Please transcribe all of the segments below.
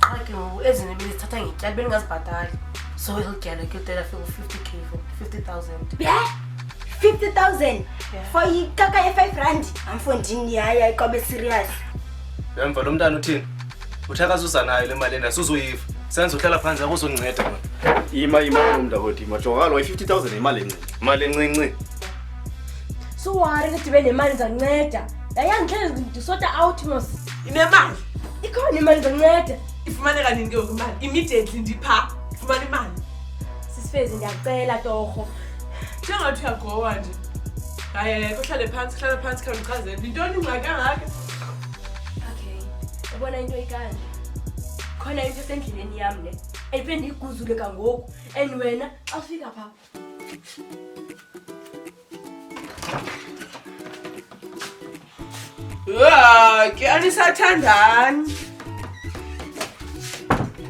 qha ke ngoku ezine belizithatha ngetyali belingazibhatali so elityalo ke utela fika u-fifty k fifty thousand ye fifty thousand for ikaka ye-five rand amfondini yaya iqobe serious emva lo mntana uthini uthe akazuza nayo le mali ena suzoyiva senza uhlala phantsi akuzonceda mna ima ima umnta kodwa ima jonga kaloku i-fifty thousand yimali encinci mali encinci suwari ndidibe nemali ndizanceda yayandihlele ndisota out mos inemali ikhona imali ndizonceda ifumaneka nini ke ngoku imali immediately ndipha fumana imali sisifezi ndiyacela torho njengathi uyagowa nje hayi kuhlale phantsi hlala phantsi khawula uchazele yintoni ingxaki angaka okay ubona into ikanje khona into esendleleni yam le endibe ndiyiguzule kangoku and wena xa ufika phaa Uaa, kiani sathandani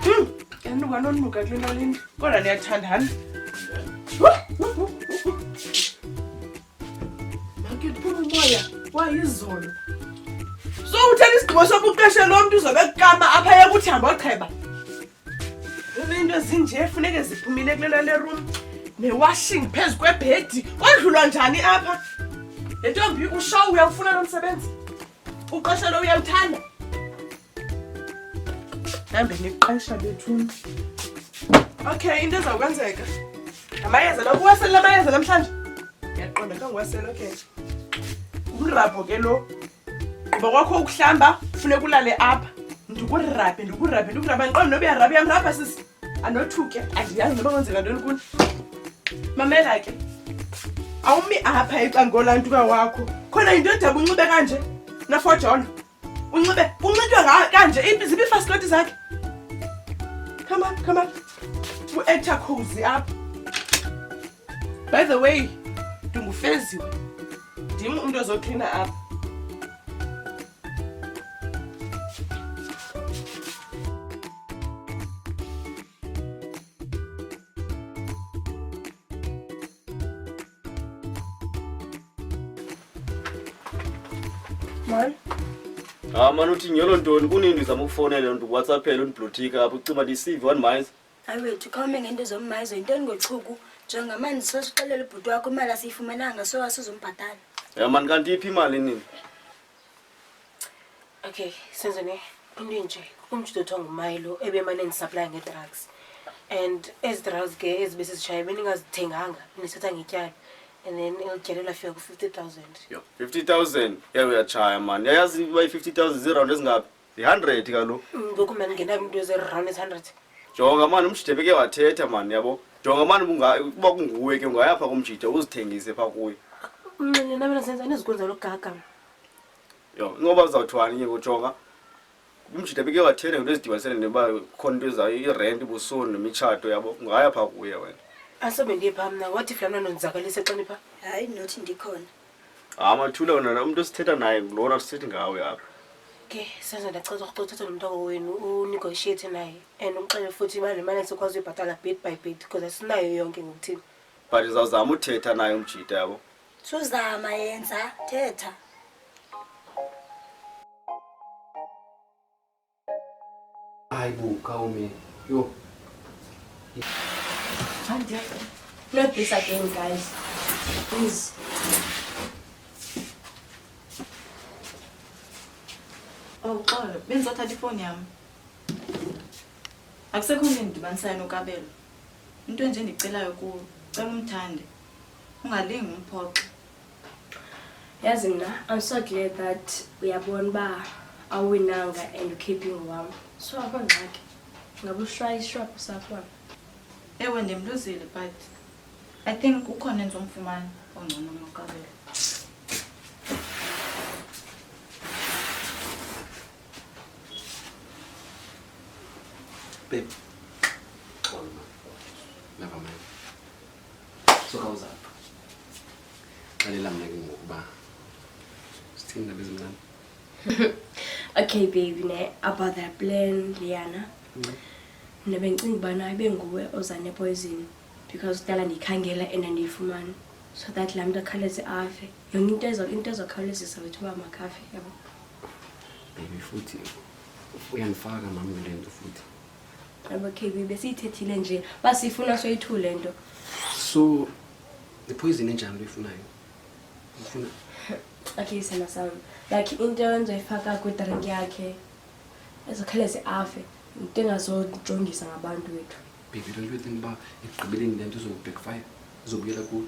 hmm, kanti kwanonmuka kule nto lini kodwa niyathandana makiphuma umoya wayizolo so uthatha isigqibo sokuqeshe lo mntu uzobe kukama apha yekuthi hamba ocheba Into ezinje funeke ziphumile kule nto le room newashing phezu kwebhedi kwadlulwa njani apha le ntombi ushow uyawufuna lo msebenzi uqesha lo uyawuthanda hambe niqesha bethuni okay into ezakwenzeka amayeza la kuwasele la mayeza namhlanje ndiyaqonda kangiwasele okay umrabho ke lo Kuba kwakho ukuhlamba funeka ulale apha. Ndikurabhe, ndikurabhe, ndikurabhe. Andiqondi noba uyarabha, uyamrabha sisi. Andothuke, andiyazi noba kwenzeka ntoni kuni. Mamela ke. Awumi apha ecangolaa ntuka wakho. Khona yinto edaba unxibe kanje nafojolo. Unxibe, unxitywa nga- kanje, ipi- ziphi ifasikoti zakhe? Come on, come on. U-actor cozy apha. By the way, ndingufeziwe. Ndim umntu ozoklina apha. Mani. Ah, mani uthi nyolo ntoni kunini ndizama ukufonela ndikuwhatsappela undiblothika apha ucima ndisive one miles. hayi wethu khawume ngento zommayizo yintoni ngochuku njengamani sosixelela ubhuti wakho imali asiyifumananga so asizombhatala ya mani kanti iphi imali nini okay senzeni into enje umjito othiwa ngumayilo ebemane ndisaplaye ngedrugs and ezi drugs ke ezibe sizishaye beningazithenganga nisithatha ngetyala and then elityalo lafika ku-fifty thousand fifty thousand yaye uyatshaya mani yayazi uba i-fifty thousand ziirawundi ezingaphi yi-hundred kaloku ngoku mani ngenayo umntu eziround ezi-hundred jonga mani umjide beke wathetha mani yabo jonga mani unga- ukuba kunguwe ke ungaya phaa kumjide uzithengise phaa kuye mnxile nabena senza anizikwenza logaga yho ingoba uzawuthwani ke kujonga umjide beke wathetha ngento ezidibanisele neba khona into ezayo irenti busoni nemitshato yabo ungaya phaa kuye wena asobe ndiye phaa mna wathi fulani anonzakalise xa nipha hayi nothi ndikhona hayi mathula wena umntu esithetha naye ngulona sithethi ngawe apha ke senze ndacela ukuthi uthethe nomntaka wenu unegotiate naye and umxele futhi imali imali esikwazi uyibhatala bit by bit because asinayo yonke ngokuthini but izawuzama uthetha naye umjita yabo suzama yenza thetha Ay bu kawmi yo. Hadi. Not this again guys. Please. Oh, xolo bendizothatha ifowuni yam akusekho nto endidibanisayo nokabelo into enje ndicelayo kuwo cela umthande ungalingi umphoxo yazi mna i'm so glad that uyabona uba awuwinanga and ukhiphe ingowam so akho ngxaki ngabe ushwaya ishwaphu sakhona ewe ndimluzile but i think ukhona endizomfumana ongcono maqabela babe Suka uzapha. Xelela mna ke ngokuba sithini ndaba ezincane. okay baby ne about that plan Liana. Mm. Mna bendicinga ubana ibe nguwe oza nepoison because kudala ndiyikhangela and andiyifumani so that laa mntu akhawuleze afe yonke into ezo into ezokhawulezisa wethu uba makafe yabo baby futhi uyandifaka mam kule nto futhi abakhebi besiyithethile nje basifuna soyithule nto so iphoyizini enjani loyifunayo ufuna okay sena sam like into enzoyifaka kwidrink yakhe ezokhawuleze afe into engazojongisa ngabantu wethu baby don't you think uba ekugqibeleni le nto izobackfire izobuyela kulo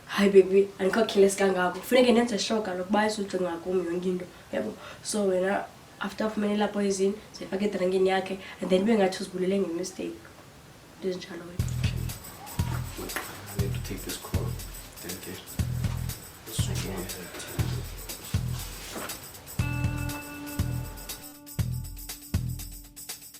hayi baby andikho kheles kangako funeke ndenze sure kalokuba izojonga kum yonke into yabo so wena after afumene lapho izini zifake edrankini yakhe and then bengathi uzibulele ngemistake into ezinjalo wena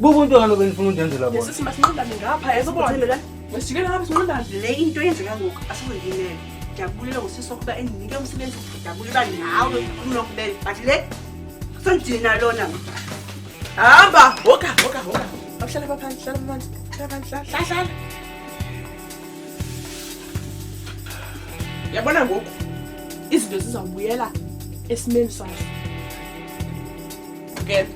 Bubu into kaloku endifuna undenzela bona. Yesusi masinqandane ngapha yeso bona. Uthembela. Masijikele ngapha sinqandane. Le into yenzeka ngoku asizindinele. Ndiyabulela ngosisi ukuba endinike umsebenzi ndiyabulela nawe ukhulula kubele. But le sendini nalona. Hamba, hoka, hoka, hoka. Awuhlala pha phansi, hlala phansi. Hlala phansi, hlala, hlala. Yabona ngoku izinto zizawubuyela esimeni sazo. Ngeke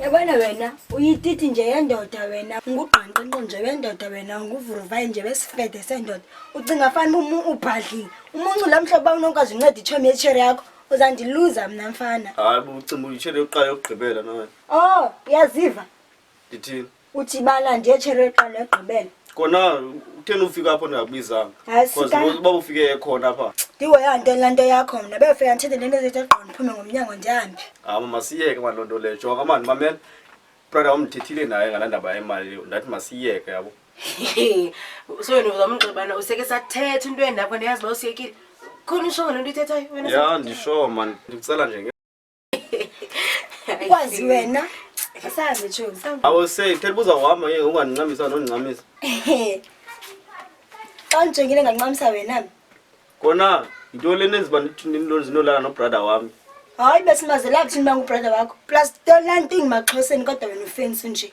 yabona wena uyititi nje yendoda wena ngugqanqinqo nje wendoda wena nguvuruvayi nje wesifede sendoda ucinga fana uba ubhadlile umuncu la mhlobo uba unokwazi unceda itshomi yetshere yakho uzandiluza mna mfana hayi bucinga uyitshere yokuqala yokugqibela nawe o oh, uyaziva ndithini uthi bana ndiye tshereqa negqibela kona utheni ufika apho ndingakubizanga Hayi, because sika- uba ufike ekhona apha ndihoya nto la nto yakho mna befika ndithethe le nto zethe gqo ndiphume ngomnyango ndihambe hayi mama siyeke mani loo nto leyo jonga mani mamela brother wam ndithethile naye ngalaa ndaba yemali ndathi masiyeke yabo so wena uzamnxibana useke sathetha into endakho ndiyazi uba usiyekile khona ushongo le nto ithethayo wena ya ndisho mani ndikucela nje ukwazi wena asazi tshozi awusey phela buza uhamba ke ungandincamisa nondincamisa xa ndijongile ngancamisa wena kona yinto le nenziba ndinolala nobrada wami hayi besimazelaphi thini uba ngubrada wakho plus tonanting maxhoseni kodwa wena ufensi nje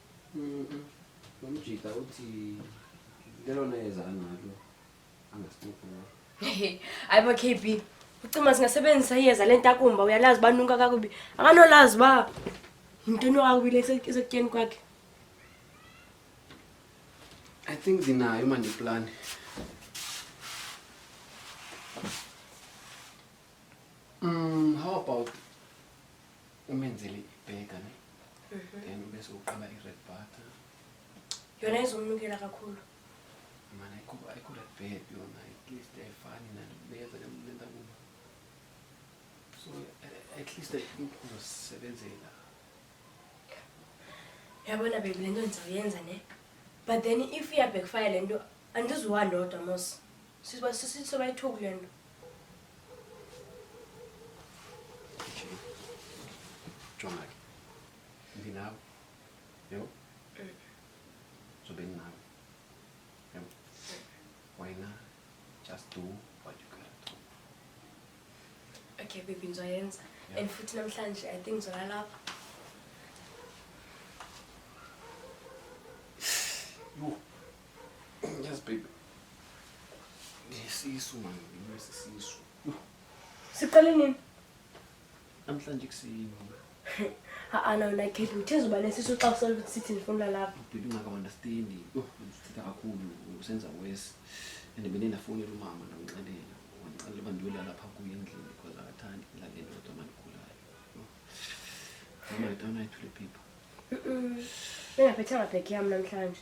Nomjita uthi lelona yeza analo angasiphuphula. Hayi bo KB, ucima singasebenzisa iyeza lentakumba uyalazi uba nunka kakubi. Akanolazi uba yintoni kakubi le ise- isekutyeni kwakhe. I think ndinayo manje iplan. Mm, how about umenzele ibhega ne mhm. then ube sowuqala i-red butter yona izomnukela kakhulu mana ayikho-red bed yona at least ayifani nalibeza nemlenda kuba so eh, at least uzosebenzela yabona bebi le nto ndizawuyenza ne but then if iyabhekufaya le nto andizuwa ndodwa mos Siba sisi soba ithuku le nto. Jonga ke. Ndinawe. Yebo. Zobe ndinawe. Yebo. Wena just do what you gotta do. Okay baby ngizoyenza. Yeah. And futhi namhlanje I think ngizolalapha. Yho. Yes, baby. Ngisisu man, ngisisisu. Siqale nini? Namhlanje kusini. Ha ana wena Kate uthezwe uba nesisu xa usele sithi ndifuna lapha. Baby ngaka understand. Yho, usithetha kakhulu usenza worse. And bene ndafowunela umama ndamxelela. Wandixelela uba ndiyolala lapha kuye endlini because akathandi ilale ndodwa mandigulayo. Mama, don't I to the people. Ningaphethanga bag yam namhlanje.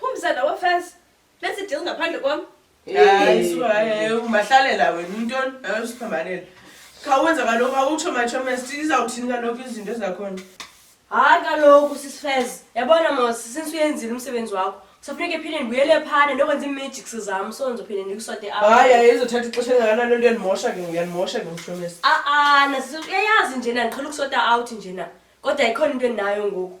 Phumza nawe first. Let's deal ngaphandle kwam. Hayi suka hayi umahlalela wena untoni hayi usiphambanela. Khawuwenza kaloku awutsho machomest izawuthini kaloku izinto ezakhona. Hayi kaloku sisifez. Yabona mos since uyenzile umsebenzi wakho. Kusafuneka ephinde ndibuyele phana ndokwenza iimagics zam so ndizophinde ndikusote apha. Hayi hayi izothatha ixesha elingakanani lento yandimosha ke ngoku yandimosha ke machomest. Ah-ah, nasi uyayazi njena ndiqhela ukusota out njena. Kodwa ikhona into endinayo ngoku.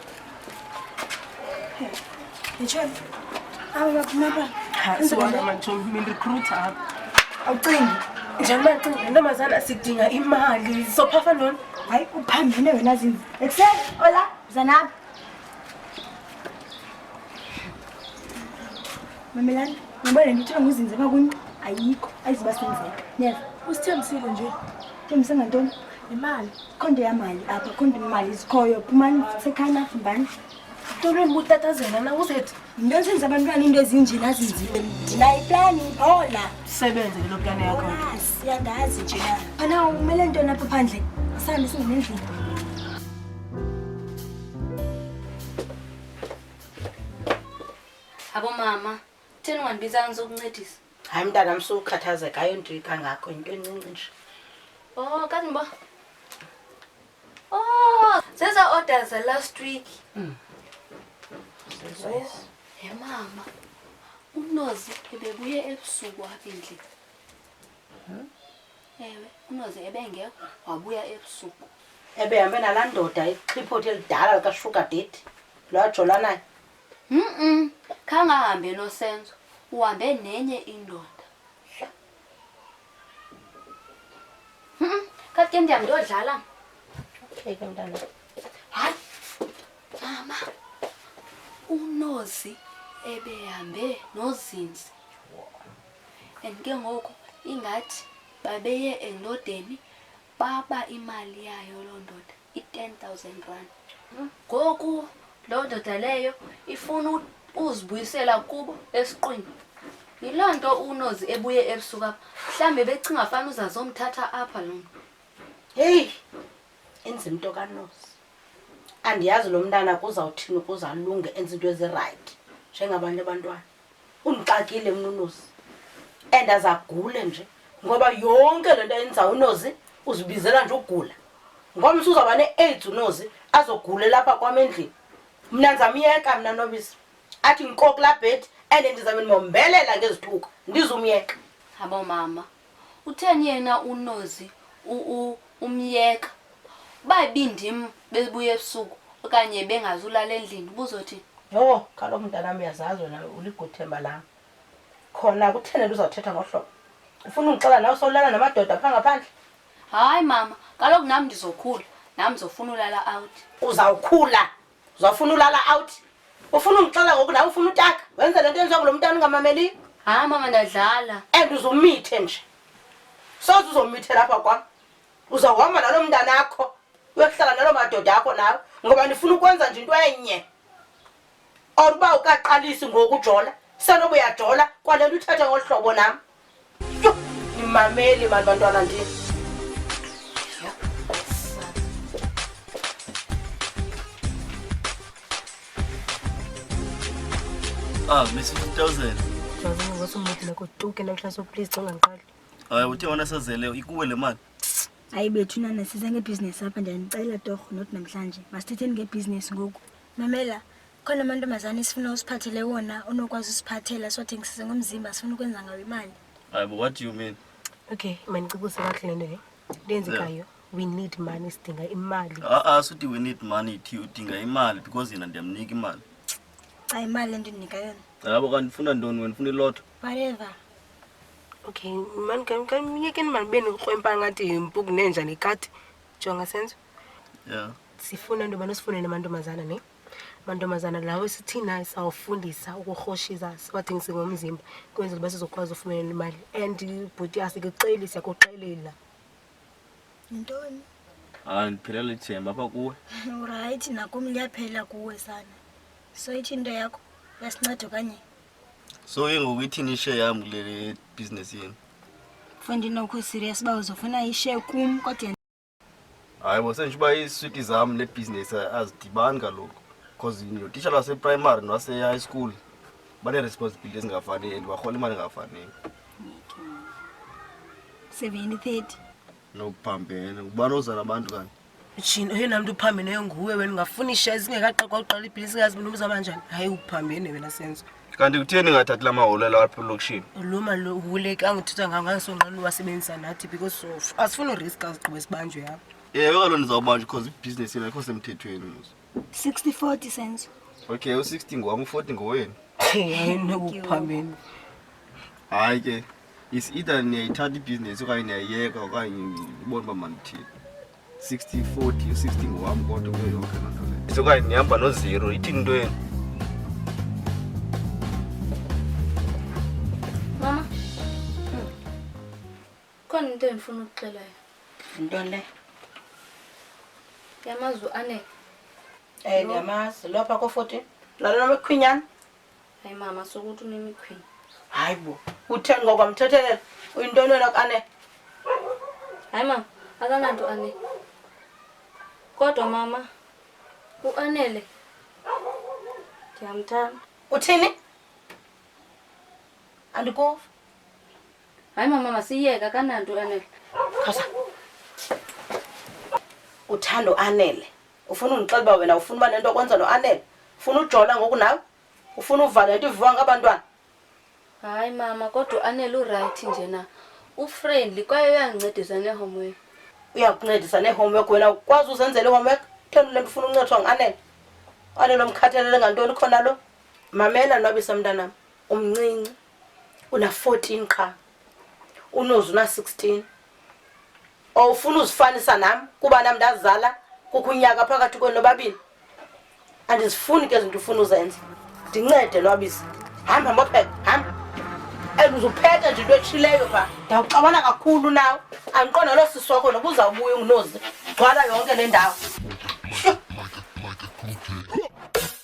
awucingi njengoba cinga le ntombazana sidinga imali sophafa ntoni hayi uphambene wena zini ekuseni ola zanapha mamelani ngoba le nto ithiwa nguzinze pha kuni ayikho ayiziba senzeka niyeva usithembisile nje thembise ngantoni yimali kho ndiyamali apha kho ndimali zikhoyo phumani sekhani afumbani tolwe butatazela na uzethi yinto esenza abantwana into ezinje nazinzile ndinayo iplani ola sebenze ke lo plani yakho siyandazi nje na phana umele nto napha phandle sihambe singene endlini abomama theni ungandibizanga sokuncedisa hayi mntana msukhathazeka ayonto kangako yinto encinci nje o oh, kazinbo o oh, zeza order za last week mm. he mama unozi ebebuye ebusuku apha endlini hmm? ewe unozi ebengekho wabuya ebusuku ebehambe nalaa ndoda ixhiphothe elidala likashuga date lwajolanayo Mm-mm. Khangahambe noSenzo. Uhambe nenye indoda. Mm-mm. Kati ke ndiyam ndiyodlala. Okay ke mntana. Hayi. Mama. Unozi ebehambe nozinzi. And ke ngoku ingathi babeye endodeni baba imali yayo loo ndoda. i-ten thousand rand ngoku loo ndoda leyo ifuna uzibuyisela kubo esiqwini yiloo nto unozi ebuye ebusuku apha mhlawumbi becinga fana uzazomthatha apha lo mntu heyi enza into kanozi andiyazi lo mntana kuzawuthini ukuze alunge enza into ezirayithi njengabantu abantwana undixakile mna unozi and azagule nje ngoba yonke le nto ayenza unozi uzibizela nje ugula ngomso uzawuba ne-aids unozi azogule lapha kwam endlini mna ndizamyeka mna nobisi athi ngikokula bhedi and ndizamnimombelela ngezithuko ndizumyeka habo mama Utheni yena unozi umyeka? Uba ibindim bebuya ebusuku okanye bengazulala endlini ubuzothi? Yho, kaloku mntanam uyazazi wena uliguthemba lam. Khona kutheni nto uzawuthetha ngohlobo? Ufuna undixela nawe sowulala namadoda phaa ngaphandle? Hayi mama, kaloku nam ndizokhula, nam ndizofuna ulala out. Uzawukhula uzawufuna ulala out ufuna undixela ngoku nawe ufuna utaka wenze le nto yenziwa kulo mntana ungamameliyo hayi mama ndadlala and uzumithe nje soze uzomithe lapha kwam uzawuhamba nalo mntana akho uyokuhlala nalo madoda akho nawe ngoba ndifuna ukwenza nje into enye or uba ukaqalisi ngoku ujola senobuyajola kwale nto uthethe ngolu hlobo nam Nimameli mani bantwana ndini. Ah, Miss 5000. Ndiyazama ngosu mncedile kutuke namhla so please xa ungandiqali. Hayi uthe wona sazele ikuwe le mali. hayi bethu nana siza ngebhizinesi apha ndiyanicela torho not namhlanje masithetheni ngebhizinesi ngoku mamela khona amantombazane esifuna usiphathele wona unokwazi usiphathela sothengisise ngomzimba sifuna ukwenza ngawo imali hayi but what do you mean okay mandicibuse kakuhle le nto le ndenzekayo we need money sidinga imali a-a suthi we need money thi udinga imali because yena ndiyamnika imali xa imali endinika yona yabo kanti ndifuna ntoni wena ndifuna ilotho whatever okay mani kamyekeni mani be nikrwempa ngathi mpuku nenja nekati jonga senzo ya sifuna nto bani osifunele amantombazana ne mantombazana lawo sithina sawufundisa ukurhoshisa siwathengise ngomzimba kwenzela uba sizokwazi ufumelela imali and bhuti asikuxeli siyakuxelela yintoni hayi ndiphelela ithemba apha kuwe urayithi nakum liyaphela kuwe sana so ithi into yakho yasinceda okanye so ke ngoku ithini ishe yam kule bhizinesi yenu fo ndinokho serious uba uzofuna ishe kum kodwa hayi bo senditsho uba iiswiti zam nebhizinesi azidibani kaloku because notishala waseprimary nowase-high school banee-responsibility ezingafaniyo and barhola imali engafaniyo seventy thirty nokuphambene ubani ozala abantu kanti jini oyena mntu uphambeneyo nguwe wena ungafuna isha ezingekaqekwa uqala ibhilisi ngazi mntu umzama njani hayi uphambene wena senzo kanti kutheni ngathathi la maholo lawo apha elokishini lo mahule ke angithetha ngangansonqa luwasebenzisa nathi because sof asifuni urisk azigqiba esibanjwe yabo ewe kalo ndizawubanjwa because ibhizinesi yena ikho semthethweni mos 60 40 senzo okay u-60 ngowam u-40 ngowenu ayinokuphambeni hayi ke is either niyayithatha ibhizinesi okanye niyayiyeka okanye ubona uba mandithini 60 40 60 ngowam kodwa kuyo yonke loo nto leyo sokanye ndihamba nozero ithini into yenu Mama. Hmm. Khona into endifuna ukuxela yona. Into le. Yamazi uAne. Eh ndiyamazi lopha ko-14. Lalo nomekhwinyana. Hayi mama sokuthi unemikhwini. Hayi bo. Utheni ngoko mthethelela? Uyintoni wena kane? Hayi mama akananto ane. Kodwa mama uanele ndiyamthanda. Uthini? Andikuva. Hayi mama masiyeke akananto uanele. Khawuza. Uthando anele. ufuna undixela uba wena ufuna uba nento okwenza noanele ufuna ujola ngoku nawe ufuna uvala nto iviwa ngabantwana hayi mama kodwa uanele urayithi nje na ufriendly kwaye uyandincedisa neehomework uyakuncedisa neehomework wena ukwazi uzenzela ihomework thenu le nto ufuna uncethwa nguanele uanele omkhathalele ngantoni khona lo mamela nwabisa mntanam umncinci una-fourteen qha unozi una-sixteen or ufuna uzifanisa nam kuba nam ndazala kukho unyaka phakathi kwenu nobabini andizifuni ke zinto ufuna uzenza ndincede lwabisa hamba mbopheka hamba and uzuphetha nje into etshileyo pha ndawuxabana kakhulu nawe andiqonda loo sisi wakho noba uzawubuya ungunozi gcwala yonke le ndawo